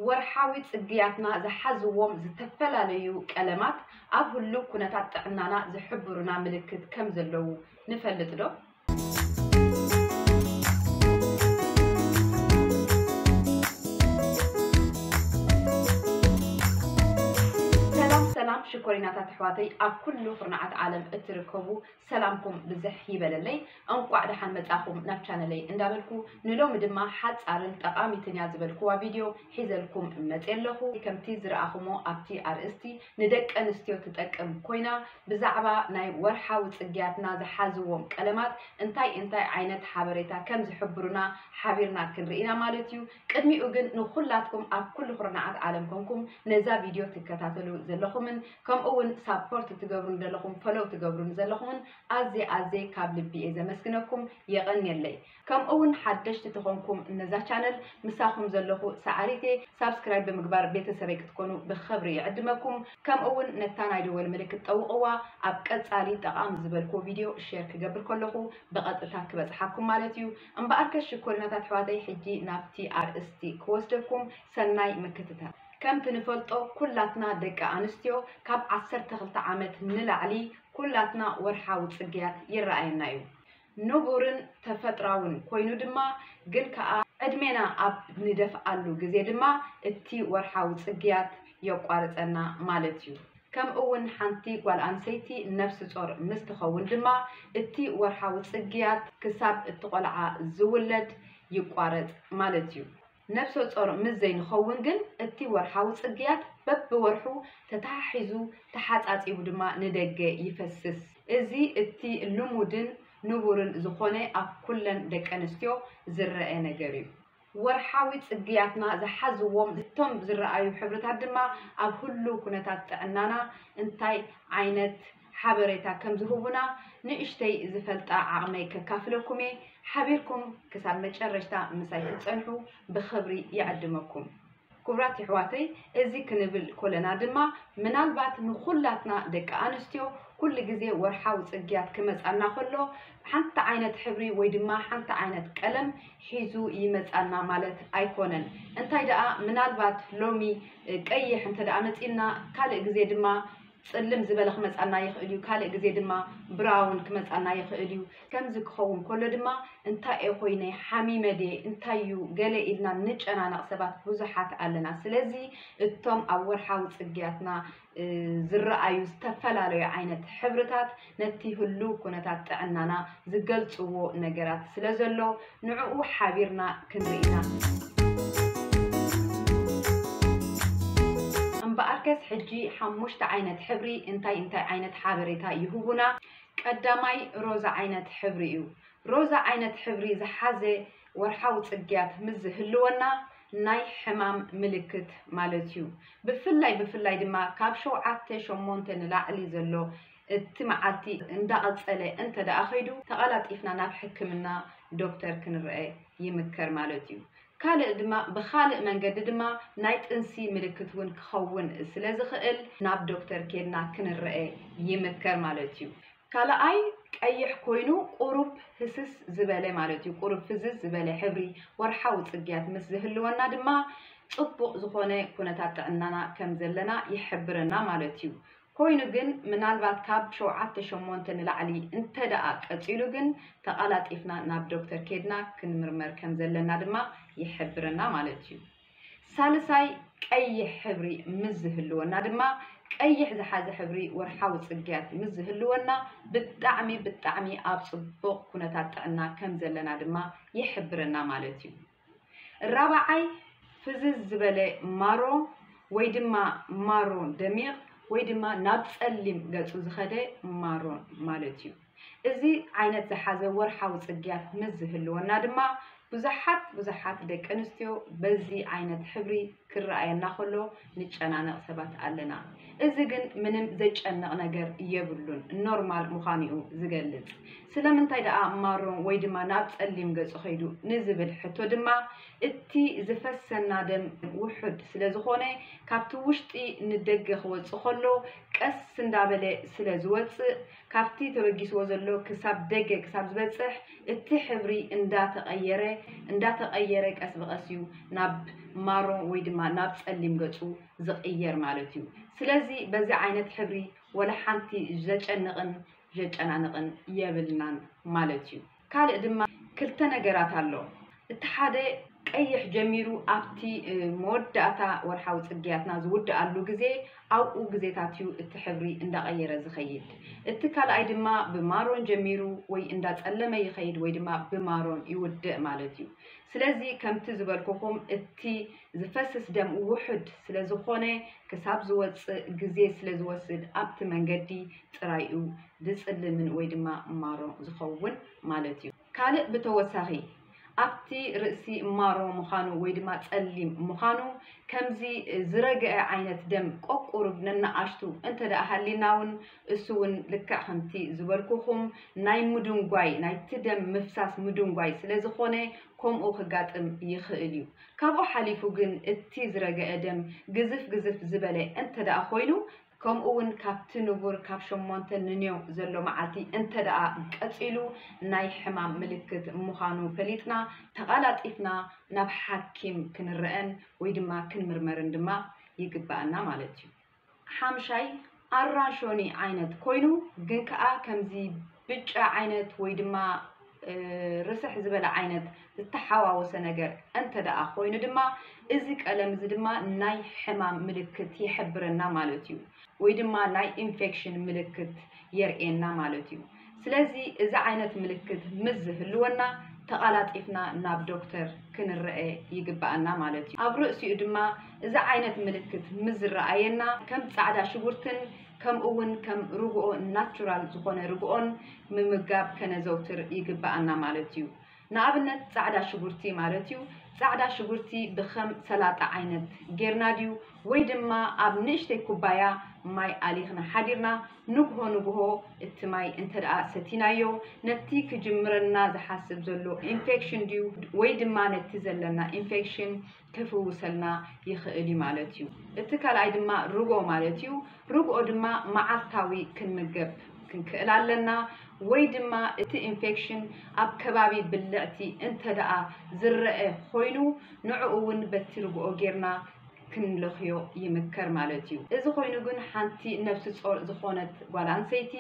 ወርሓዊ ጽግያትና ዝሓዝዎም ዝተፈላለዩ ቀለማት ኣብ ህሉው ኩነታት ጥዕናና ዝሕብሩና ምልክት ከም ዘለዉ ንፈልጥ ዶ? ሰላም ሰላም ሽኮሪናታት ኣሕዋተይ ኣብ ኩሉ ኩርናዓት ዓለም እትርከቡ ሰላምኩም ብዝሕ ይበለለይ እንቋዕ ደሓን መጻኹም ናብ ቻነለይ እንዳበልኩ ንሎሚ ድማ ሓጻርን ጠቓሚትን እያ ዝበልኩዋ ቪድዮ ሒዘልኩም መጽየ ኣለኹ ከምቲ ዝረኣኹሞ ኣብቲ ኣርእስቲ ንደቂ ኣንስትዮ ትጠቅም ኮይና ብዛዕባ ናይ ወርሓዊ ጽግያትና ዝሓዝዎም ቀለማት እንታይ እንታይ ዓይነት ሓበሬታ ከም ዝሕብሩና ሓቢርና ክንርኢ ኢና ማለት እዩ ቅድሚኡ ግን ንኹላትኩም ኣብ ኩሉ ኩርናዓት ዓለም ኮንኩም ነዛ ቪድዮ ትከታተሉ ዘለኹምን ከምኡ ውን ሳፖርት ትገብሩኒ ደለኹም ፈሎው ትገብሩኒ ዘለኹምን ኣዝየ ኣዝየ ካብ ልቢ እየ ዘመስግነኩም የቐንየለይ ከምኡ ውን ሓደሽቲ ተኾንኩም ነዛ ቻነል ምሳኹም ዘለኹ ሰዓሪት እየ ሳብስክራይብ ብምግባር ቤተሰበይ ክትኮኑ ብኽብሪ ይዕድመኩም ከምኡ ውን ነታ ናይ ደወል ምልክት ጠውቕዋ ኣብ ቀጻሊ ጠቓሚ ዝበልኩዎ ቪድዮ ሼር ክገብር ከለኹ ብቐጥታ ክበጽሓኩም ማለት እዩ እምበኣርከ ሽኮሪናታት ኣሕዋተይ ሕጂ ናብቲ ኣርእስቲ ክወስደኩም ሰናይ ምክትታል ከምቲ ንፈልጦ ኩላትና ደቂ ኣንስትዮ ካብ ዓሰርተ ክልተ ዓመት ንላዕሊ ኩላትና ወርሓዊ ጽግያት ይረኣየና እዩ። ንቡርን ተፈጥራውን ኮይኑ ድማ ግን ከኣ ዕድሜና ኣብ ንደፍኣሉ ግዜ ድማ እቲ ወርሓዊ ጽግያት የቋርጸና ማለት እዩ። ከምእውን ሓንቲ ጓል ኣንሰይቲ ነብሲ ጾር ምስ ትኸውን ድማ እቲ ወርሓዊ ጽግያት ክሳብ እቲ ቆልዓ ዝውለድ ይቋረጽ ማለት እዩ። ነብሰጾር ምስ ዘይንኸውን ግን እቲ ወርሓዊ ጽግያት በብወርሑ ተተሓሒዙ ተሓጻጺቡ ድማ ንደገ ይፈስስ። እዚ እቲ ልሙድን ንቡርን ዝኾነ ኣብ ኩለን ደቀንስትዮ ዝረኣ ነገር'ዩ። ወርሓዊ ጽግያትና ዝሓዝዎም እቶም ዝረኣዩ ሕብርታት ድማ ኣብ ህሉው ኩነታት ጥዕናና እንታይ ዓይነት። ሓበሬታ ከም ዝህቡና ንእሽተይ ዝፈልጣ ዓቕመይ ከካፍለኩም እየ። ሓቢርኩም ክሳብ መጨረሽታ ምሳይ ክትጸንሑ ብኽብሪ ይዕድመኩም። ክቡራት የሕዋተይ እዚ ክንብል ኮለና ድማ ምናልባት ንኹላትና ደቂ ኣንስትዮ ኩሉ ግዜ ወርሓዊ ጽግያት ክመጻና ከሎ ሓንቲ ዓይነት ሕብሪ ወይ ድማ ሓንቲ ዓይነት ቀለም ሒዙ ይመጻና ማለት ኣይኮነን። እንታይ ደኣ ምናልባት ሎሚ ቀይሕ እንተ ደኣ መጺልና ካልእ ግዜ ድማ ጽልም ዝበለ ክመጻና ይኽእል እዩ፣ ካልእ ግዜ ድማ ብራውን ክመጻና ይኽእል እዩ። ከምዚ ክኸውን ከሎ ድማ እንታይ'የ ኮይነ፣ ሓሚመ ድየ፣ እንታይ'ዩ ገለ ኢልና እንጨናነቕ ሰባት ብዙሓት ኣለና። ስለዚ እቶም ኣብ ወርሓዊ ጽግያትና ዝረኣዩ ዝተፈላለዩ ዓይነት ሕብርታት፣ ነቲ ህሉው ኩነታት ጥዕናና ዝገልጽዎ ነገራት ስለ ዘሎ፣ ንዕኡ ሓቢርና ክንርኢ ኢና። እምበኣርከስ ሕጂ ሓሙሽተ ዓይነት ሕብሪ እንታይ እንታይ ዓይነት ሓበሬታ ይህቡና? ቀዳማይ፣ ሮዛ ዓይነት ሕብሪ እዩ። ሮዛ ዓይነት ሕብሪ ዝሓዘ ወርሓዊ ጽግያት ምስ ዝህልወና፣ ናይ ሕማም ምልክት ማለት እዩ። ብፍላይ ብፍላይ ድማ ካብ ሸውዓተ ሸሞንተ ንላዕሊ ዘሎ እቲ መዓልቲ እንዳቐጸለ እንተደኣ ከይዱ ተቐላጢፍና ናብ ሕክምና ዶክተር ክንረኣ ይምከር ማለት እዩ። ካልእ ድማ ብኻልእ መንገዲ ድማ ናይ ጥንሲ ምልክት እውን ክኸውን ስለዝኽእል ናብ ዶክተር ኬድና ክንረኣ ይምከር ማለት እዩ። ካልኣይ ቀይሕ ኮይኑ ቁሩብ ህስስ ዝበለ ማለት እዩ። ቁሩብ ፍዝዝ ዝበለ ሕብሪ ወርሓዊ ጽግያት ምስ ዝህልወና ድማ ጽቡቕ ዝኾነ ኩነታት ጥዕናና ከምዘለና ይሕብረና ማለት እዩ። ኮይኑ ግን ምናልባት ካብ ሸውዓተ ሸሞንተ ንላዕሊ እንተድኣ ቀጺሉ ግን ተቓላጢፍና ናብ ዶክተር ኬድና ክንምርመር ከም ዘለና ድማ ይሕብረና ማለት እዩ። ሳልሳይ ቀይሕ ሕብሪ ምስ ዝህልወና ድማ ቀይሕ ዝሓዘ ሕብሪ ወርሓዊ ጽግያት ምስ ዝህልወና ብጣዕሚ ብጣዕሚ ኣብ ጽቡቕ ኩነታት ጥዕና ከም ዘለና ድማ ይሕብረና ማለት እዩ። ራብዓይ፣ ፍዝዝ ዝበለ ማሮ ወይ ድማ ማሮ ደሚቕ ወይ ድማ ናብ ጸሊም ገጹ ዝኸደ ማሮ ማለት እዩ። እዚ ዓይነት ዝሓዘ ወርሓዊ ጽግያት ምስ ዝህልወና ድማ ብዙሓት ብዙሓት ደቂ ኣንስትዮ በዚ ዓይነት ሕብሪ ክረኣየና ከሎ ንጨናነቅ ሰባት ኣለና እዚ ግን ምንም ዘጨንቅ ነገር የብሉን ኖርማል ምዃኑ እዩ ዝገልጽ ስለምንታይ ደኣ ማሮ ወይ ድማ ናብ ጸሊም ገጹ ከይዱ ንዝብል ሕቶ ድማ እቲ ዝፈሰና ደም ውሑድ ስለ ዝኾነ ካብቲ ውሽጢ ንደገ ክወጽእ ከሎ ቀስ እንዳበለ ስለ ዝወጽእ ካብቲ ተበጊስዎ ዘሎ ክሳብ ደገ ክሳብ ዝበጽሕ እቲ ሕብሪ እንዳ ተቐየረ እንዳ ተቐየረ ቀስ ብቐስ እዩ ናብ ማሮ ወይ ድማ ናብ ጸሊም ገጹ ዝቕየር ማለት እዩ። ስለዚ በዚ ዓይነት ሕብሪ ወላ ሓንቲ ዘጨንቕን ዠጨናንቕን የብልናን ማለት እዩ። ካልእ ድማ ክልተ ነገራት ኣሎ እቲ ሓደ ቀይሕ ጀሚሩ ኣብቲ መወዳእታ ወርሓዊ ጽግያትና ዝውድኣሉ ግዜ ኣብኡ ግዜታት እዩ እቲ ሕብሪ እንዳቐየረ ዝኸይድ እቲ ካልኣይ ድማ ብማሮን ጀሚሩ ወይ እንዳጸለመ ይኸይድ ወይ ድማ ብማሮን ይውድእ ማለት እዩ ስለዚ ከምቲ ዝበልኩኹም እቲ ዝፈስስ ደም ውሑድ ስለዝኾነ ክሳብ ዝወጽእ ግዜ ስለዝወስድ ኣብቲ መንገዲ ጥራይ እዩ ዝጽልምን ወይ ድማ ማሮ ዝኸውን ማለት እዩ። ካልእ ብተወሳኺ ኣብቲ ርእሲ ማሮ ምዃኑ ወይ ድማ ጸሊም ምዃኑ ከምዚ ዝረገዐ ዓይነት ደም ቆቁሩብ ነናኣሽቱ እንተ ደኣ ሃሊና ውን እሱ ውን ልክዕ ከምቲ ዝበልኩኹም ናይ ምዱንጓይ ናይቲ ደም ምፍሳስ ምዱንጓይ ስለ ዝኾነ ከምኡ ክጋጥም ይኽእል እዩ። ካብኡ ሓሊፉ ግን እቲ ዝረገዐ ደም ግዝፍ ግዝፍ ዝበለ እንተ ደኣ ኮይኑ ከምኡ'ውን ካብቲ ንቡር ካብ ሸሞንተ ንንዮው ዘሎ መዓልቲ እንተድኣ ቀጺሉ ናይ ሕማም ምልክት ምዃኑ ፈሊጥና ተቓላጢፍና ናብ ሓኪም ክንረኣን ወይ ድማ ክንምርመርን ድማ ይግበኣና ማለት እዩ። ሓምሻይ፣ ኣራሾኒ ዓይነት ኮይኑ ግን ከኣ ከምዚ ብጫ ዓይነት ወይ ድማ ርስሕ ዝበለ ዓይነት ዝተሓዋወሰ ነገር እንተደኣ ኮይኑ ድማ እዚ ቀለም እዚ ድማ ናይ ሕማም ምልክት ይሕብረና ማለት እዩ ወይ ድማ ናይ ኢንፌክሽን ምልክት የርእየና ማለት እዩ ስለዚ እዚ ዓይነት ምልክት ምስ ዝህልወና ተቓላጢፍና ናብ ዶክተር ክንረአ ይግባኣና ማለት እዩ ኣብ ርእሲኡ ድማ እዚ ዓይነት ምልክት ምስ ዝረኣየና ከም ፃዕዳ ሽጉርትን ከምኡ እውን ከም ርግኦ ናቹራል ዝኾነ ርግኦን ምምጋብ ከነዘውትር ይግብኣና ማለት እዩ። ንኣብነት ጻዕዳ ሽጉርቲ ማለት እዩ፣ ጻዕዳ ሽጉርቲ ብከም ሰላጣ ዓይነት ጌርና ድዩ ወይ ድማ ኣብ ንእሽተይ ኩባያ ማይ ኣሊኽና ሓዲርና ንግሆ ንግሆ እቲ ማይ እንተደኣ ሰቲናዮ ነቲ ክጅምረና ዝሓስብ ዘሎ ኢንፌክሽን ድዩ ወይ ድማ ነቲ ዘለና ኢንፌክሽን ከፍውሰልና ይኽእል እዩ ማለት እዩ። እቲ ካልኣይ ድማ ርግኦ ማለት እዩ። ርግኦ ድማ መዓልታዊ ክንምገብ ክንክእል ኣለና። ወይ ድማ እቲ ኢንፌክሽን ኣብ ከባቢ ብልዕቲ እንተደኣ ዝረኣ ኾይኑ ንዕኡ እውን በቲ ርግኦ ጌርና ክንለኽዮ ይምከር ማለት እዩ። እዚ ኮይኑ ግን ሓንቲ ነብሲ ጾር ዝኾነት ጓል ኣንሰይቲ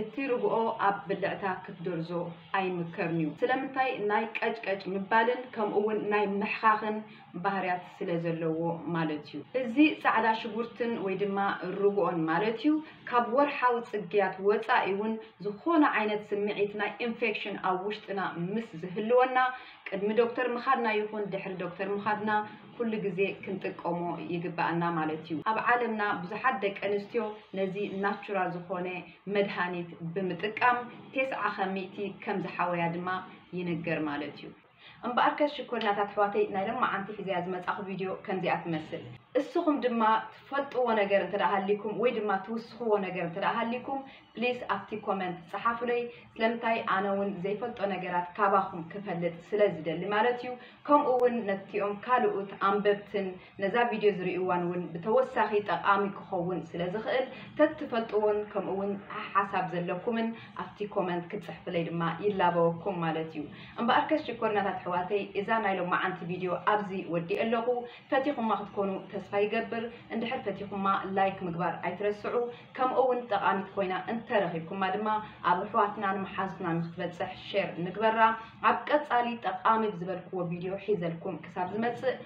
እቲ ርግኦ ኣብ ብልዕታ ክትደርዞ ኣይምከርን'ዩ። ስለምንታይ? ናይ ቀጭቀጭ ምባልን ከምኡ'ውን ናይ ምሕኻኽን ባህርያት ስለ ዘለዎ ማለት'ዩ። እዚ ጻዕዳ ሽጉርትን ወይ ድማ ርግኦን ማለት'ዩ፣ ካብ ወርሓዊ ጽግያት ወጻኢ'ውን ዝኾነ ዓይነት ስምዒት ናይ ኢንፌክሽን ኣብ ውሽጥና ምስ ዝህልወና ቅድሚ ዶክተር ምኻድና ይኹን ድሕሪ ዶክተር ምኻድና ኩሉ ግዜ ክንጥቀሞ ይግበኣና ማለት'ዩ። ኣብ ዓለምና ብዙሓት ደቀንስትዮ ነዚ ናቹራል ዝኾነ መድሃኒት ብምጥቃም ቴስዓ ካብ ሚእቲ ከም ዝሓወያ ድማ ይንገር ማለት እዩ። እምበኣርከስ ሽኮሪናት ኣሕዋተይ ናይ ሎማዓንቲ ሒዘያ ዝመጻኹ ቪድዮ ከምዚኣ ትመስል። እስኹም ድማ ትፈልጥዎ ነገር እንተደኣ ሃሊኩም ወይ ድማ ትውስኽዎ ነገር እንተደኣ ሃሊኩም ፕሊስ ኣብቲ ኮመንት ጸሓፉለይ። ስለምንታይ ኣነ እውን ዘይፈልጦ ነገራት ካባኹም ክፈልጥ ስለ ዝደሊ ማለት እዩ። ከምኡ እውን ነቲኦም ካልኡት ኣንበብትን ነዛ ቪድዮ ዝርእዩዋን እውን ብተወሳኺ ጠቓሚ ክኸውን ስለ ዝኽእል ተትፈልጥዎን ከምኡ እውን ሓሓሳብ ዘለኩምን ኣብቲ ኮመንት ክትጽሕፍለይ ድማ ይላበወኩም ማለት እዩ። እምበኣርከስ ሽኮሪናታት ኣሕዋተይ እዛ ናይ ሎማዓንቲ ቪድዮ ኣብዚ ወዲኤ ኣለኹ። ፈቲኹማ ክትኮኑ ተስፋ ይገብር። እንድሕር ፈቲኹማ ላይክ ምግባር ኣይትረስዑ። ከምኡ እውን ጠቓሚት ኮይና እንተረኺብኩማ ድማ ኣብ ኣሕዋትናን መሓዙትናን ንክትበጽሕ ሼር ንግበራ። ኣብ ቀጻሊ ጠቓሚ ብዝበልክዎ ቪድዮ ሒዘልኩም ክሳብ ዝመጽእ